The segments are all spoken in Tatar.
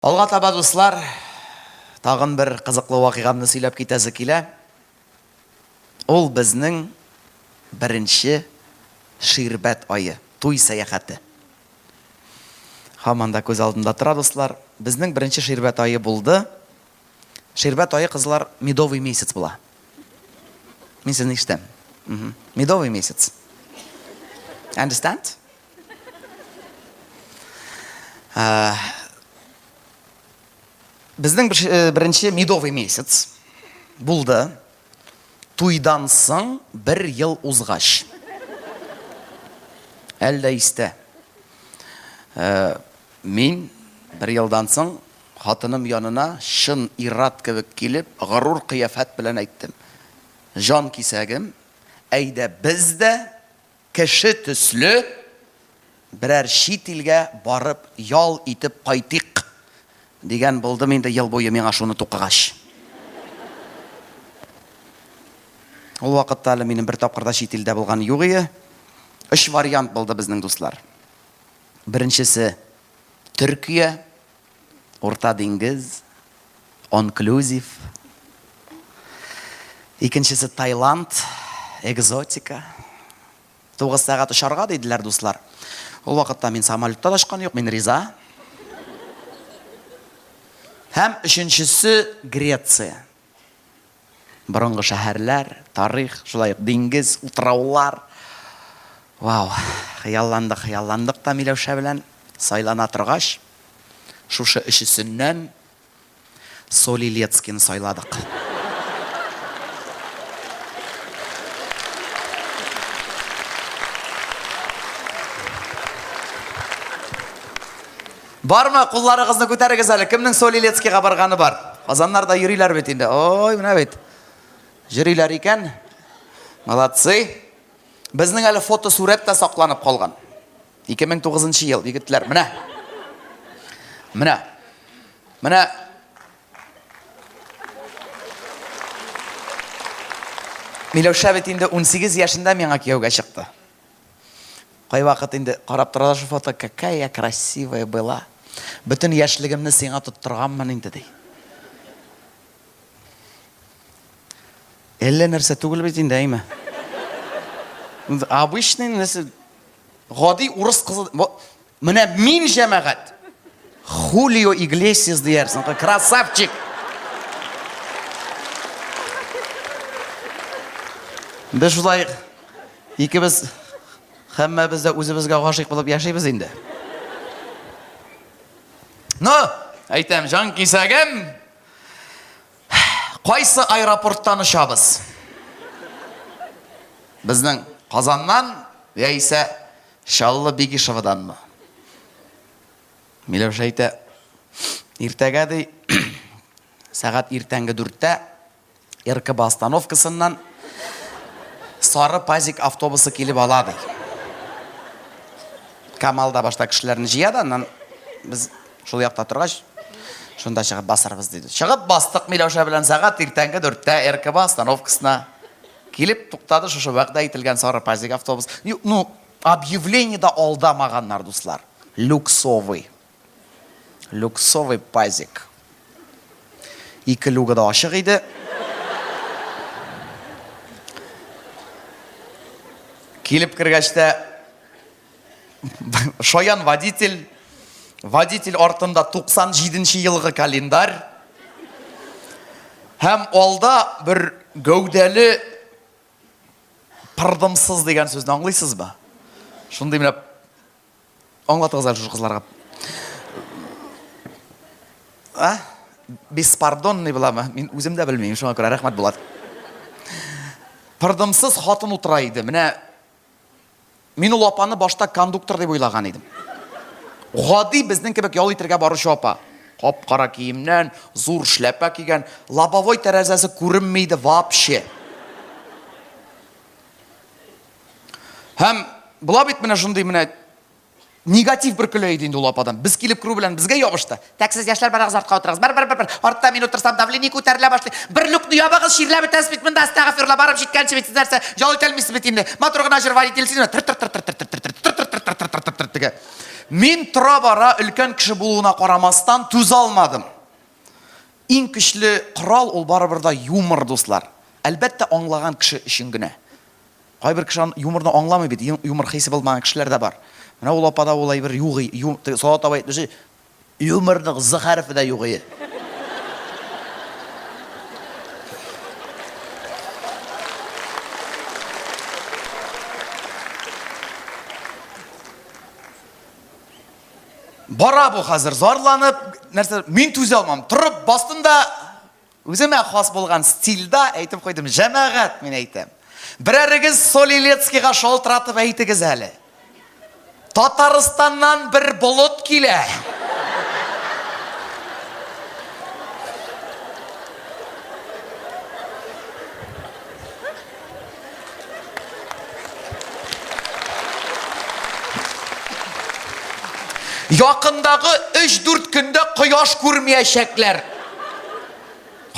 Алга таба, дуслар, тагын бер кызыклы вакыйгамны сөйләп китәсе килә. Ул безнең беренче ширбәт ае, туй сәяхәте. Һаман да күз алдында тора, дуслар. Безнең беренче ширбәт ае булды. Ширбәт ае, кызлар, медовый месяц була. Мин сезне ишетәм. Медовый месяц. Understand? Ә, безнең э, беренче медовый месяц булды. Туйдан соң бер ел узгач. Әлдә истә. Ә, мин бер елдан соң хатыным янына шын ират кебек килеп, горур кыяфәт белән әйттем. Жан кисәгем, әйдә без дә Кеше төсле берәр чит илгә барып ял итеп кайтыйк дигән булдым инде ел буе миңа шуны тукыгач. Ул вакытта әле минем бер тапкыр да чит илдә булган юк ие. Өч вариант булды безнең дуслар. Беренчесе, Төркия, Урта диңгез, онклюзив. Икенчесе Таиланд, экзотика. Тугыз сәгать очарга диделәр, дуслар. Ул вакытта мин самолетта да очкан юк, мин риза. Һәм өченчесе Греция. Борынгы шәһәрләр, тарих, шулай ук диңгез, утраулар. Вау, хыялландык, хыялландык та Миләүшә белән. Сайлана торгач, шушы өчесеннән Солилецкины сайладык. Бармы? Кулларыгызны күтәрегез әле. Кемнең Солилецкийга барганы бар? Казаннарда йөриләр бит инде. Ой, менә бит. Йөриләр икән. Молодцы. Безнең әле фотосурәт тә сакланып калган. 2009 ел, егетләр. Менә. Менә. Менә Миләүшә бит инде 18 яшендә миңа кияүгә чыкты. Кайвакыт инде карап тора да шул фото, какая красивая была. Бөтен яшьлегемне сиңа тоттырганмын инде, ди. Әллә нәрсә түгел бит инде, әйме? Обычный нәрсә. Гади урыс кызы, Менә мин җәмәгать. Хулио Иглесиас диярсең, красавчик. Без шулай икебез һәммәбез дә үзебезгә гашыйк булып яшибез инде. Ну, әйтәм, җан кисәгем. Кайсы аэропорттан очабыз? Безнең Казаннан яисә Чаллы Бигишеваданмы? Миләүшә әйтә, иртәгә ди, сәгать иртәнге дүрттә РКБ остановкасыннан сары пазик автобусы килеп ала ди. Камал да башта кешеләрне җыя да, аннан без шул якта торгач, шунда чыгып басарбыз диде. Чыгып бастык Миләүшә белән сәгать иртәнге дүрттә РКБ остановкасына. Килеп туктады шушы вәгъдә ителгән сары пазик автобус. Ну, объявление да алдамаганнар, дуслар. Люксовый. Люксовый пазик. Ике люгы да ачык иде. Килеп кергәч тә Шаян водитель, водитель артында 97 нче елгы календарь. Һәм алда бер гәүдәле пырдымсыз дигән сүзне аңлыйсыз ба? Шундый менә аңлатыгыз әле шушы кызларга. А? Беспардонный буламы? Мин үзем дә белмим, шуңа күрә рәхмәт Булат. Пырдымсыз хатын утыра иде. Менә Мин ул апаны башта кондуктор дип уйлаган идем. Гади безнең кебек ял итергә баручы апа. Кап-кара киемнән, зур шляпа кигән, лобовой тәрәзәсе күренми иде вообще. Һәм була бит менә шундый менә негатив бөркелә иде инде ул ападан. Без килеп керү белән безгә ябышты. Тәк сез яшьләр барагыз артка утырыгыз. Бер бер бер бер. Артта мин утырсам давление күтәрелә башлый. Бер люкны ябыгыз, чирләп бетәсез бит монда. Астагфирулла барып җиткәнче бит сез нәрсә? Ял итә алмыйсыз бит инде. Матур гына җыр валит ильсина. Тыр тыр тыр тыр тыр тыр тыр тыр тыр тыр тыр тыр тыр тыр тыр тиге. Мин тора бара өлкән кеше булуына карамастан түз алмадым. Иң көчле корал ул барыбер да юмор, дуслар. Әлбәттә, аңлаган кеше өчен генә. Кайбер кеше аны юморны аңламый бит, юмор хисе булмаган кешеләр дә бар. Менә ул апада ул әйбер югый, теге Салават абый әйтмеши, юморның з хәрефе дә югые. Бара бу хәзер зарланып, нәрсә, мин түзә алмам. Торып бастым да Үземә хас булган стильда әйтеп куйдым, җәмәгать, мин әйтәм. Берәрегез Солилецкийга шалтыратып әйтегез әле. Татарстаннан бер болыт килә. Якындагы 3-4 көндә кояш күрмәячәкләр.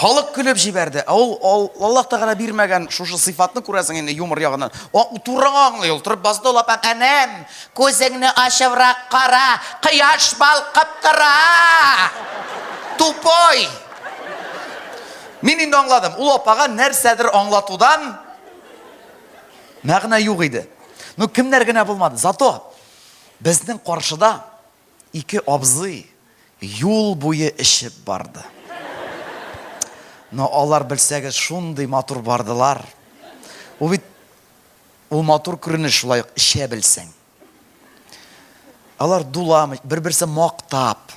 Халык көлеп җибәрде. Ә ул ал- Аллаһ Тәгалә бирмәгән шушы сыйфатны күрәсең инде юмор ягыннан. Ак утурыңа аңлый ул. Торып басты ул апа. Әнәм, күзеңне ачыбрак кара, кояш балкып тора! Тупой! Мин инде аңладым, ул апага нәрсәдер аңлатудан мәгънә юк иде. Ну, кемнәр генә булмады. Зато безнең каршыда ике абзый юл буе эчеп барды. Но алар белсәгез шундый матур бардылар. Ул бит ул матур күренеш шулай ук эчә белсәң. Алар дуламый, бер-берсе мактап.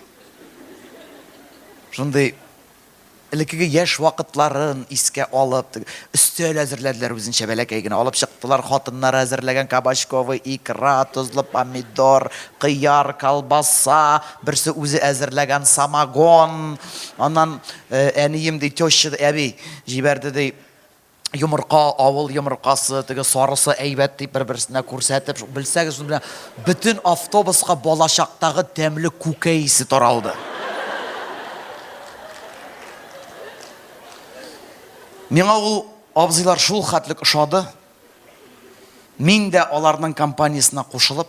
Шундый элеккеге яшь вакытларын искә алып, өстәл әзерләделәр үзенчә бәләкәй генә. Алып чыктылар хатыннары әзерләгән кабачковый икра, тозлы помидор, кыяр, колбаса, берсе үзе әзерләгән самогон. Аннан э, әнием ди, теща әби җибәрде ди, йомырка, авыл йомыркасы, теге сарысы әйбәт дип бер-берсенә күрсәтеп, белсәгез, шуның белән бөтен автобуска балачактагы тәмле күкәй исе таралды. Миңа ул абзыйлар шул хәтлек ошады. Мин дә аларның компаниясенә кушылып,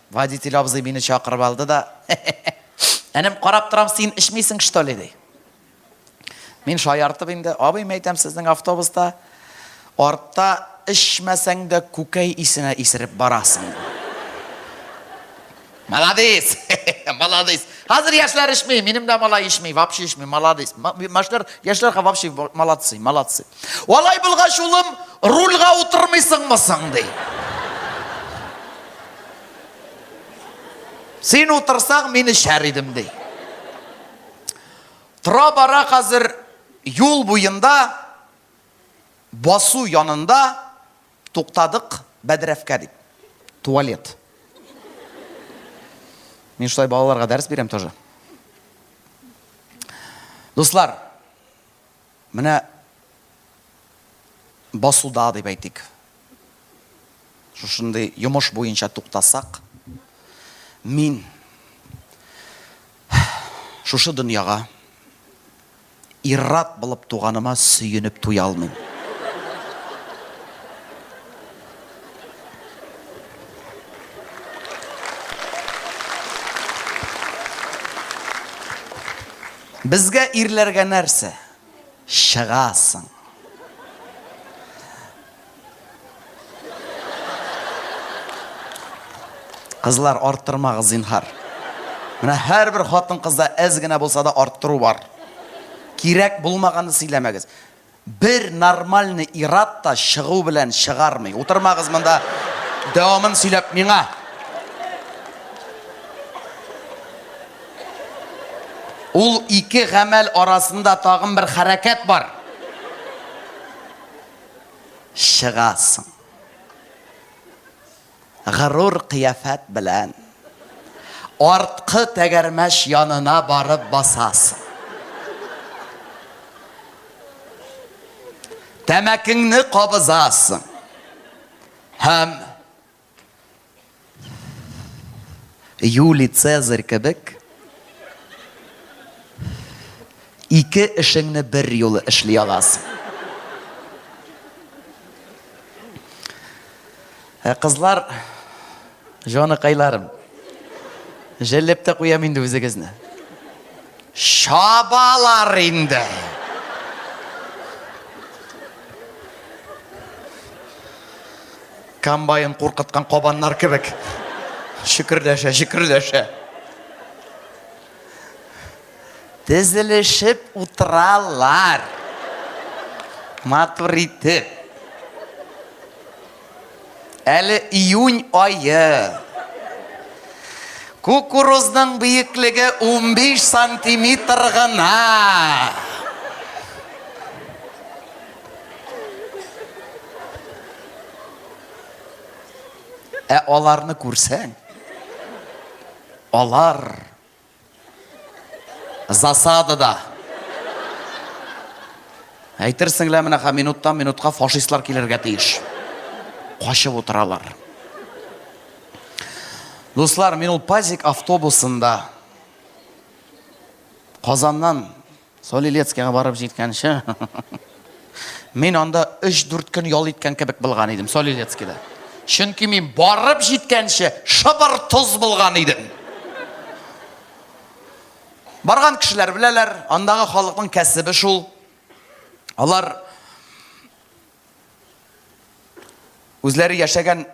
Водитель абзый мине чакырып алды да, Энем, карап торам, син эчмисең, что ли, ди. Мин шаяртып инде, абый, мәйтәм, сезнең автобуста артта эчмәсәң дә күкәй исенә исереп барасың. Молодец! Молодец! Хәзер яшьләр эчми, минем дә малай эчми, вообще эчми, молодец. Машлар, яшьләр вообще молодцы, молодцы. Алай булгач, улым, рульга утырмыйсыңмы соң, ди. Син утырсаң, мин эчәр идем, ди. Тора бара хәзер юл буенда басу янында туктадык бәдрәфкә дип. Туалет. Мин шулай балаларга дәрес бирәм тоже. Дуслар, Менә басуда, дип әйтик, шушындый йомыш буенча туктасак, мин шушы дөньяга ир-ат булып туганыма сөенеп туя алмыйм. Безгә ирләргә нәрсә? Чыгасың. Кызлар, арттырмагыз, зинһар. Менә һәрбер хатын-кызда әз генә булса да арттыру бар. Кирәк булмаганны сөйләмәгез. Бер нормальный ир-ат та чыгу белән чыгармый. Утырмагыз монда, дәвамын сөйләп миңа. Ул ике гамәл арасында тагын бер хәрәкәт бар. Чыгасың. Горур кыяфәт белән арткы тәгәрмәч янына барып басасың. Тәмәкеңне кабызасың һәм Юлий Цезарь кебек Ике эшеңне бер юлы эшли аласың. Ә кызлар, җаныкайларым, җәлләп тә куям инде үзегезне. Чабалар инде. Комбайн куркыткан кабаннар кебек. Шөкерләшә, шөкерләшә. Тезелешеп утыралар. Матур итеп. Әле июнь айы. Кукурузның биеклеге 15 сантиметр гына. Ә аларны күрсәң, алар Засадада. Әйтерсең лә менә минуттан минутка фашистлар килергә тиеш. Качып утыралар. Дуслар, мин ул пазик автобусында Казаннан Солилецкига барып җиткәнче, мин анда 3-4 көн ял иткән кебек булган идем, Солилецкида. Чөнки мин барып җиткәнче шыбыр тоз булган идем. Барган кешеләр беләләр, андагы халыкның кәсебе шул. Алар үзләре яшәгән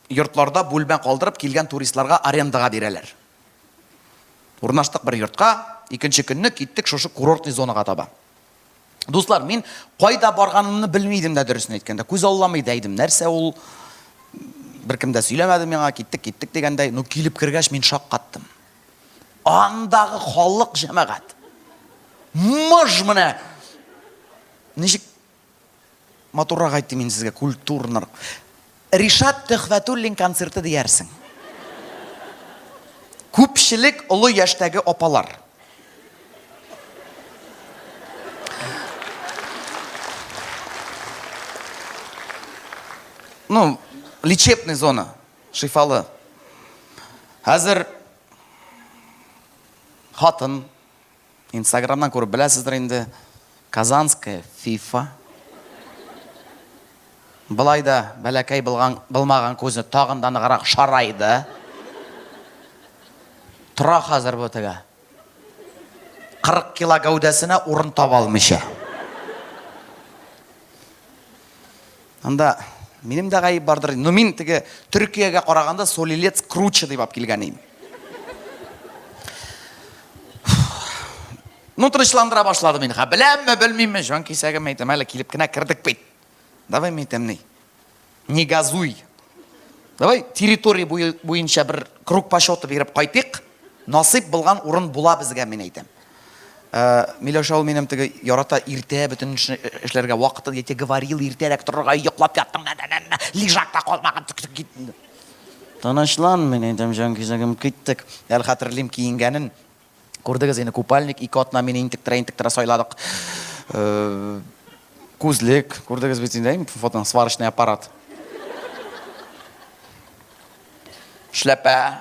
йортларда бүлмә калдырып килгән туристларга арендага бирәләр. Урнаштык бер йортка, икенче көнне киттек шушы курортный зонага таба. Дуслар, мин кайда барганымны белми идем дә, дөресен әйткәндә, күз алламый да идем, нәрсә ул, беркем дә сөйләмәде миңа, киттек, киттек дигәндәй, ну килеп кергәч мин шаккаттым. Андагы халык җәмәгать. Мыж менә. Ничек Матуррак әйтте мин сезгә, культурнар. Ришат Төхвәтуллин концерты диярсең. Күпчелек олы яшьтәге апалар. Ну, лечебный зона, шифалы. Хәзер хатын Инстаграмнан күреп беләсездер инде, Казанская FIFA. Былай да бәләкәй булган, булмаган күзне тагын да ныграк шарайды. Тора хәзер бу тегә. 40 кило гәүдәсенә урын таба алмыйча. Анда минем дә гаеп бардыр. Ну мин теге Төркиягә караганда солилец круче дип алып килгән идем. Ну тынычландыра башлады мин. Ха беләмме, белмимме, җан кисәгем әйтәм, әле килеп кенә кердек бит. Давай мин әйтәм ни. Не газуй. Давай территория буенча бер круг почета биреп кайтыйк. Насыйп булган урын була безгә, мин әйтәм. Э, Миләүшә ул минем теге ярата иртә бөтен эшне эшләргә вакыты, я тебе говорил, иртәрәк торырга, йоклап яттың, нә, нә, нә, лежакта калмаган, тик, тик, кит. Тынычлан, мин әйтәм, җан кизәгем, киттек. Әле хәтерлим киенгәнен. Күрдегез инде, купальник, ике атна мин интектерә, интектерә сайладык. Э, күзлек, күрдегез бит инде, фотон, сварочный аппарат. Шляпа,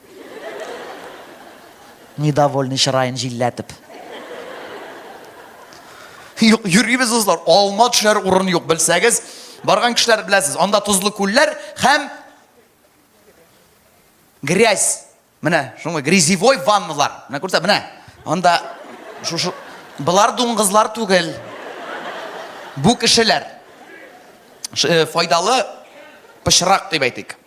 Недовольный чыраен җилләтеп. Юк, йөрибез дузлар. Алма төшәр урын юк, белсәгез. Барган кешеләр беләсез, анда тозлы күлләр һәм грязь. Менә шуңа грязевой ванналар. Менә күрсә, менә. Анда шушы Болар дуңгызлар түгел. Бу кешеләр. Э, файдалы пычрак дип әйтик.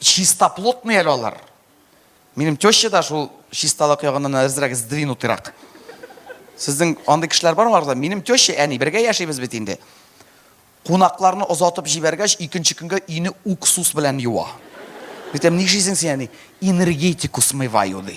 Чистоплотный әле алар. Минем теща да шул чисталык ягыннан әзрәк сдвинутырак. Сезнең андый кешеләр бармы арада? Минем теща, әни, бергә яшибез бит инде. Кунакларны озатып җибәргәч, икенче көнгә өйне уксус белән юа. Әйтәм, нишлисең син, әни? Энергетику смываю, ди.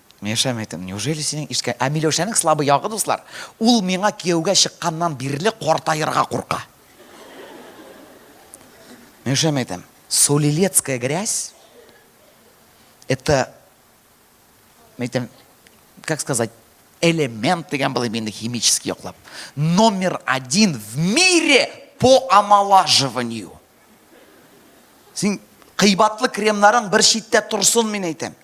Миләүшәме әйтәм, неужели синең ишеткән, ә Миләүшәнең слабый ягы, дуслар, ул миңа кияүгә чыкканнан бирле картаерга курка. Миләүшәме әйтәм, солилецкая грязь, это, әйтәм, как сказать, элемент дигән булыйм инде химический яклап, номер один в мире по омолаживанию. Син кыйбатлы кремнарың бер читтә торсын, мин әйтәм.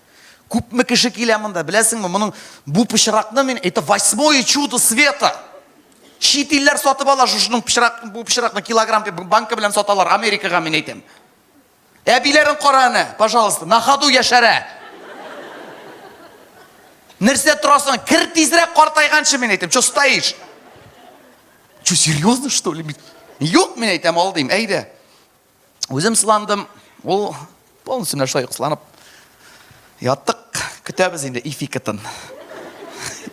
Күпме кеше килә монда, беләсеңме, моның бу пычракны мин, это восьмое чудо света. Чит илләр сатып ала шушының пычрак, бу пычракны килограмм дип банка белән саталар Америкага, мин әйтәм. Әбиләрен кара әнә, пожалуйста, на ходу яшәрә. Нәрсә торасың? Кер тизрәк картайганчы, мин әйтәм. Чё стоишь? Че, серьезно, что ли? Юк, мин әйтәм, алдыйм, әйдә. Үзем сыландым, ул полностью менә шулай сыланып. Яттык, көтәбез инде ификатын.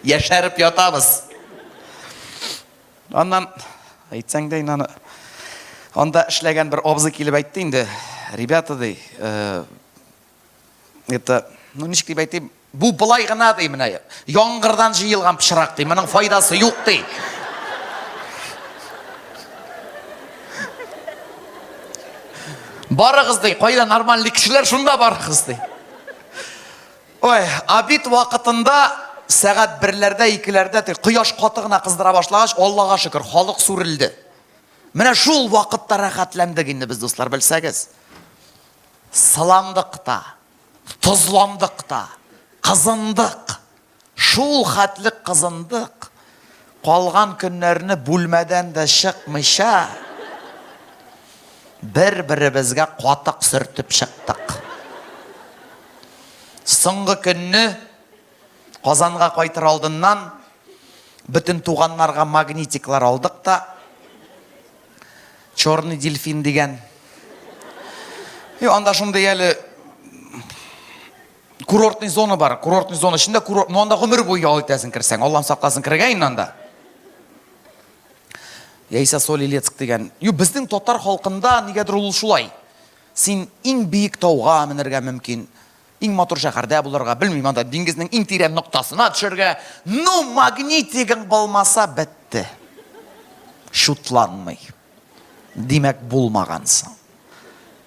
Яшәреп ятабыз. Аннан, әйтсәң дә инаны, анда эшләгән бер абзый килеп әйтте инде, ребята, ди, э, Это, ну ничек дип әйтим, бу былай гына ди менә. Яңгырдан җыелган пычрак ди, моның файдасы юк ди. Барыгыз ди, кайда нормальный кешеләр шунда барыгыз ди. Ой, абит вакытында сәгать берләрдә, икеләрдә тик кояш каты гына кыздыра башлагач, Аллага шөкер, халык сүрелде. Менә шул вакытта рәхәтләндек инде без, дуслар, белсәгез. сыландык та, тозландык та, кызындык. Шул хәтле кызындык, калган көннәрне бүлмәдән дә чыкмыйча, бер-беребезгә катык сөртеп чыктык. Соңгы көнне Казанга кайтыр алдыннан Бөтен туганнарга магнитиклар алдык та, Черный дельфин дигән. И анда шундый әле курортный зона бар. Курортный зона эчендә курорт, ну анда гомер буе ял итәсең керсәң. Аллам сакласын керергә инде анда. Яисә Солилецк дигән. Ю безнең татар халкында нигәдер ул шулай. Син иң биек тауга менергә мөмкин. Иң матур шәһәрдә булырга, белмим, анда диңгезнең иң тирән ноктасына төшәргә. Ну, магнитигың булмаса, бетте. Шутланмый. Димәк, булмагансың.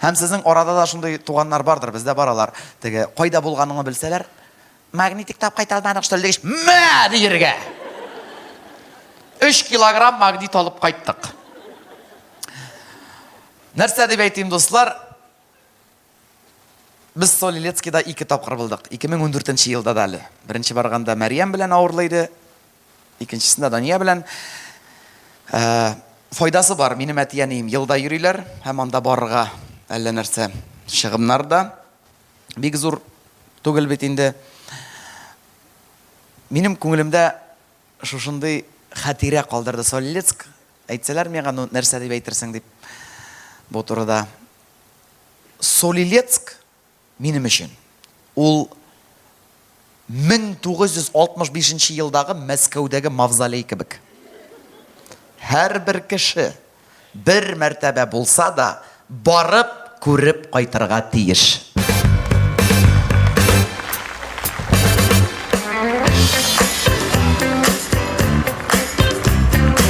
Һәм сезнең арада да шундый туганнар бардыр, бездә бар алар. Теге кайда булганыңны белсәләр, магнитик тап кайта алмадык, что ли, дигәч, мә диергә. 3 килограмм магнит алып кайттык. Нәрсә дип әйтим, дуслар? Без Солилецкида ике тапкыр булдык. 2014 нче елда да әле. Беренче барганда Мәрьям белән авырлы иде. Икенчесендә Дания белән. Ә, файдасы бар. Минем әти-әнием елда йөриләр һәм анда барырга әллә нәрсә чыгымнар да бик зур түгел бит инде. Минем күңелемдә шушындый хәтирә калдырды Солилецк. Әйтсәләр миңа, ну, нәрсә дип әйтерсең дип бу турыда. Солилецк минем өчен ул 1965 елдагы Мәскәүдәге мавзолей кебек. Һәрбер кеше бер мәртәбә булса да барып күреп кайтырга тиеш.